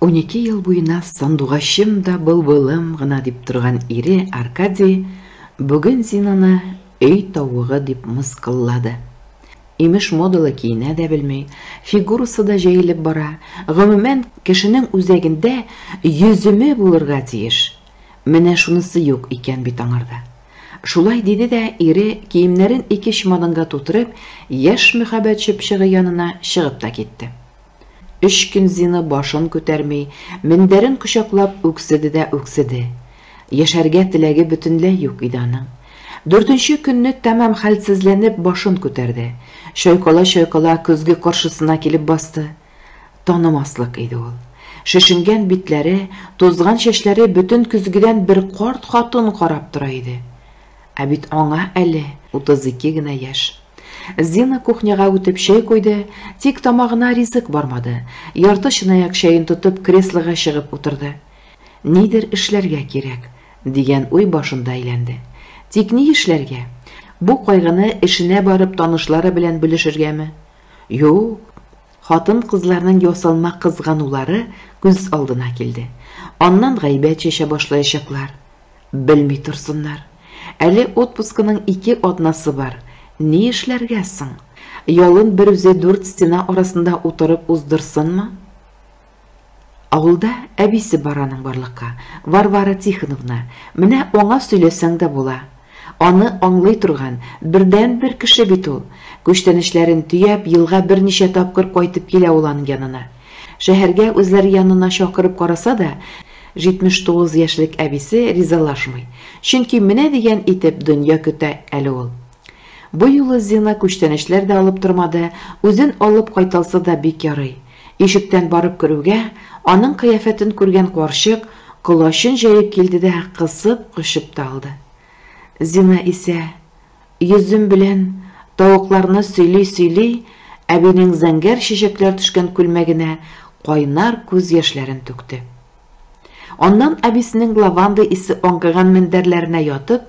Унике ел буена сандугачым да былбылым гына дип торган ире Аркадий бүген Зинаны өй тавыгы дип мыскыллады. Имеш модалы киенә дә белми, фигурасы да җәелеп бара. Гомумән, кешенең үзәгендә йөземе булырга тиеш. Менә шунысы юк икән бит аңарда. Шулай диде дә ире киемнәрен ике чемоданга тутырып, яшь мөхәббәт чыпчыгы янына чыгып та китте. Өч көн Зина башын күтәрми, мендәрен кочаклап үкседе дә үкседе. Яшәргә теләге бөтенләй юк иде аның. Дүртенче көнне тәмам хәлсезләнеп башын күтәрде. Чайкала-чайкала көзге каршысына килеп басты. Танымаслык иде ул. Шешенгән битләре, тузган чәчләре бөтен көзгедән бер карт хатын карап тора иде. Ә бит аңа әле 32 генә яшь. Зина кухняга үтеп чәй куйды, тик тамагына ризык бармады. Ярты чынаяк чәен тотып, креслога чыгып утырды. Нидер эшләргә кирәк, дигән уй башында әйләнде. Тик ни эшләргә? Бу кайгыны эшенә барып танышлары белән бүлешергәме? Юк, Хатын-кызларның ясалма кызганулары күз алдына килде. Аннан гайбәт чәчә башлаячаклар. Белми торсыннар. Әле отпускының ике атнасы бар. Ни эшләргә соң? Ялын берүзе дүрт стена арасында утырып уздырсынмы? Авылда әбисе бар аның барлыкка, Варвара Тихоновна, менә аңа сөйләсәң дә була. Аны аңлый торган, бердәнбер кеше бит ул. Күчтәнәчләрен төяп, елга берничә тапкыр кайтып килә ул аның янына. Шәһәргә үзләре янына чакырып караса да, 79 яшьлек әбисе ризалашмый. Чөнки менә дигән итеп дөнья көтә әле ул. Бу юлы Зина күчтәнәчләр дә алып тормады, үзен алып кайталса да бик ярый. Ишектән барып керүгә, аның кыяфәтен күргән карчык колачын җәеп килде дә кысып кочып та алды. Зина исә, йөзем белән тавыкларны сөйли-сөйли, әбинең зәңгәр чәчәкләр төшкән күлмәгенә кайнар күз яшьләрен түкте. Аннан әбисенең лаванда исе аңкыган мендәрләренә ятып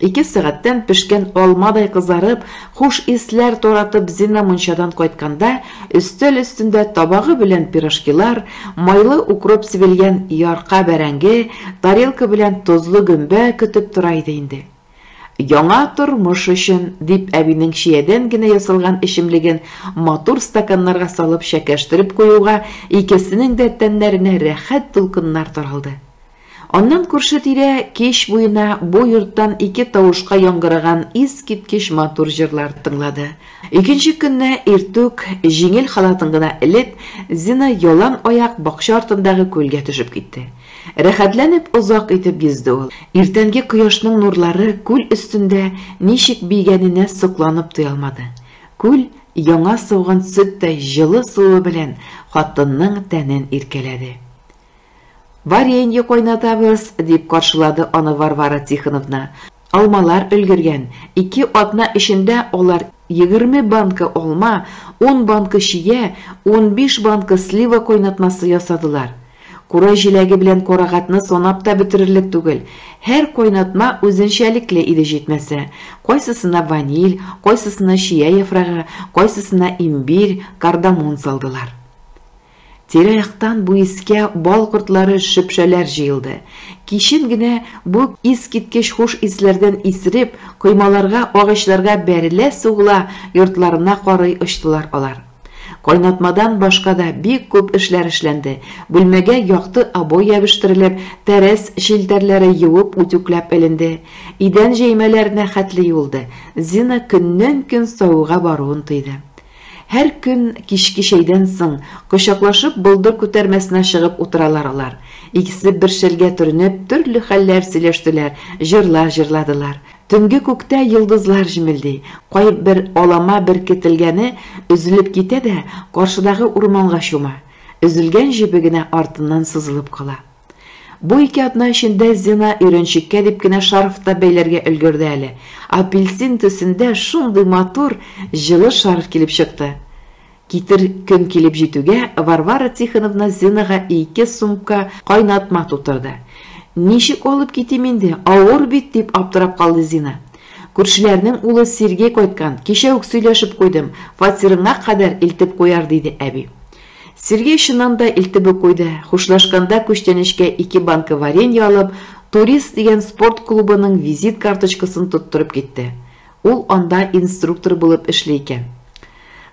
Ике сәгатьтән пешкән алмадай кызарып, хуш исләр таратып Зина мунчадан кайтканда, өстәл өстендә табагы белән пирожкилар, майлы укроп сибелгән ярка бәрәңге, тарелка белән тозлы гөмбә көтеп тора иде инде. Яңа тормыш өчен, дип әбинең чиядән генә ясалган эчемлеген матур стаканнарга салып чәкәштереп куюга, икесенең дә тәннәренә рәхәт дулкыннар таралды. Аннан күрше-тирә кич буена бу йорттан ике тавышка яңгыраган искиткеч матур җырлар тыңлады. Икенче көнне иртүк, җиңел халатын гына элеп, Зина ялан аяк бакча артындагы күлгә төшеп китте. Рәхәтләнеп озак итеп йөзде ул. Иртәнге кояшның нурлары күл өстендә ничек биегәненә сокланып туя алмады. Күл яңа сауган сөттәй җылы суы белән хатынның тәнен иркәләде. Варенье кайнатабыз, дип каршылады аны Варвара Тихоновна. Алмалар өлгергән. Ике атна эчендә алар егерме банка алма, ун банка чия, унбиш банка слива кайнатмасы ясадылар. Кура җиләге белән карагатны санап та бетерерлек түгел. Һәр кайнатма үзенчәлекле иде җитмәсә. Кайсысына ваниль, кайсысына чия яфрагы, кайсысына имбирь, кардамон салдылар. Тирә-яктан бу искә бал кортлары, шөпшәләр җыелды. Кичен генә бу искиткеч хуш исләрдән исереп, коймаларга, агачларга бәрелә-сугыла, йортларына карый очтылар алар. Кайнатмадан башка да бик күп эшләр эшләнде, бүлмәгә якты обой ябештерелеп, тәрәз челтәрләре юып-үтүкләп эленде, идән җәймәләренә хәтле юылды. Зина көннән-көн савыга баруын тойды. Һәр көн кичке чәйдән соң, кочаклашып, болдыр күтәрмәсенә чыгып утыралар алар. Икесе бер шәлгә төренеп, төрле хәлләр сөйләштеләр, җырлар җырладылар. Төнге күктә йолдызлар җемелди. Кайбер алама беркетелгәне өзелеп китә дә, каршыдагы урманга чума. Өзелгән җебе генә артыннан сузылып кала. Бу ике атна эчендә Зина өйрәнчеккә дип кенә шарф та бәйләргә өлгерде әле. Апельсин төсендә шундый матур, җылы шарф килеп чыкты. Китер көн килеп җитүгә, Варвара Тихоновна Зинага ике сумка кайнатма тутырды. Ничек алып китим инде, авыр бит, дип аптырап калды Зина. Күршеләрнең улы Сергей кайткан, кичә үк сөйләшеп куйдым, фатирыңа кадәр илтеп куяр, диде әби. Сергей чыннан да илтеп үк куйды. Хушлашканда күчтәнәчкә ике банка варенье алып, Турист дигән спорт клубының визит карточкасын тоттырып китте. Ул анда инструктор булып эшли икән.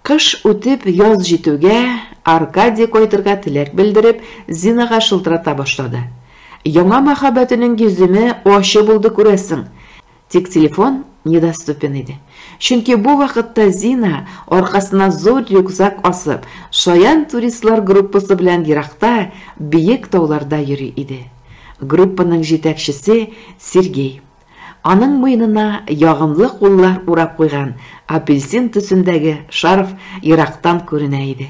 Кыш үтеп, яз җитүгә, Аркадий кайтырга теләк белдереп, Зинага шылтырата башлады. Яңа мәхәббәтенең йөземе ачы булды күрәсең. Тик телефон недоступен иде. Чөнки бу вакытта Зина, аркасына зур рюкзак асып, шаян туристлар группасы белән еракта, биек тауларда йөри иде. Группаның җитәкчесе Сергей. Аның муенына ягымлы куллар урап куйган апельсин төсендәге шарф ерактан күренә иде.